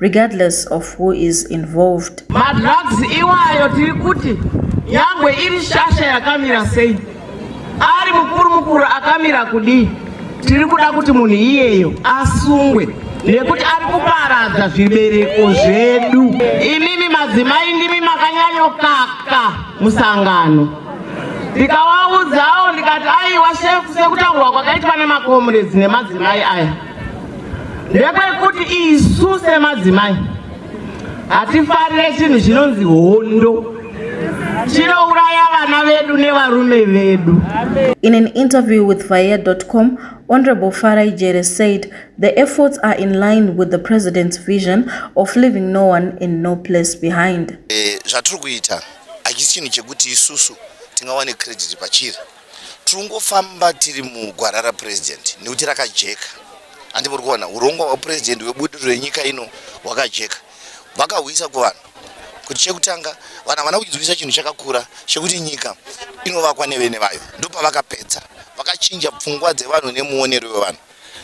regardless of who is involved. Madrugs iwayo tiri kuti nyangwe iri shasha yakamira sei, ari mukuru mukuru akamira kudii, tiri kuda kuti munhu iyeyo asungwe nekuti ari kuparadza zvibereko zvedu. Imimi madzimai ndimi makanyanyokaka musangano ndikawaudzawo ndikati aiwa shefu sekutaurwa kwakaitwa nemakomrades nemadzimai aya ndekwekuti isu semadzimai hatifarire chinhu chinonzi hondo chinouraya vana vedu nevarume vedu in an interview with vayer.com honorable farai jere said the efforts are in line with the president's vision of leaving no one in no place behind eh, zvatiri kuita hachisi chinhu chekuti isusu tingawane credit pachiri Tirikungofamba tiri mugwara raPresident nekuti rakajeka andi muri kuona hurongwa hwaPresident hwebudiriro renyika ino hwakajeka. Vakahwisa kuvanhu kuti chekutanga vanhu havana kudzivisa chinhu chakakura chekuti nyika inovakwa nevene vayo ndopavakapedza vakachinja pfungwa dzevanhu nemuonero wevanhu.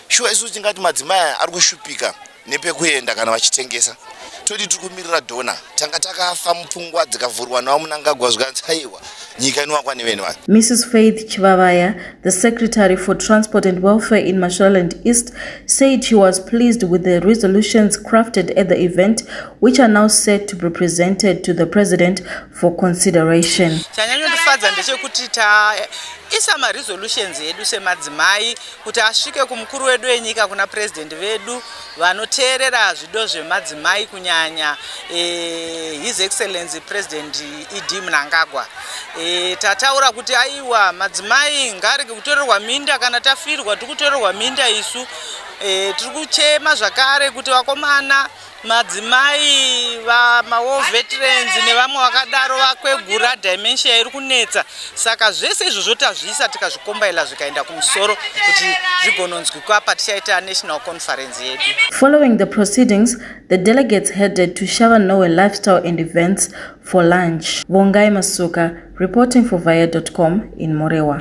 shuwa isusu tingati madzimai aya ari kushupika nepekuenda kana vachitengesa toti tiri kumirira dona tanga takafa mupfungwa dzikavhurwa nawo munangagwa zvikanzi haiwa nyika inowakwa nevene vanhu mrs faith chivavaya the secretary for transport and welfare in mashoraland east said she was pleased with the resolutions crafted at the event which are now set to be presented to the president for consideration chanyanyondifadza ndechekuti taisa maresolutions edu semadzimai kuti asvike kumukuru wedu wenyika kuna president vedu vanoteerera zvido zvemadzimai kunyanya e, his excellency president ed mnangagwa e, tataura kuti aiwa madzimai ngarege kutorerwa minda kana tafirwa tiri kutorerwa minda isu e, tiri kuchema zvakare kuti vakomana Madzimai vamawar veterans nevamwe vakadaro vakwegura dimensia iri kunetsa saka zvese izvozvo tazviisa tikazvikombaila zvikaenda kumusoro kuti zvigononzwikwa patichaita national conference yedu following the proceedings the delegates headed to shava nowe lifestyle and events for lunch vongai masuka reporting for via com in morewa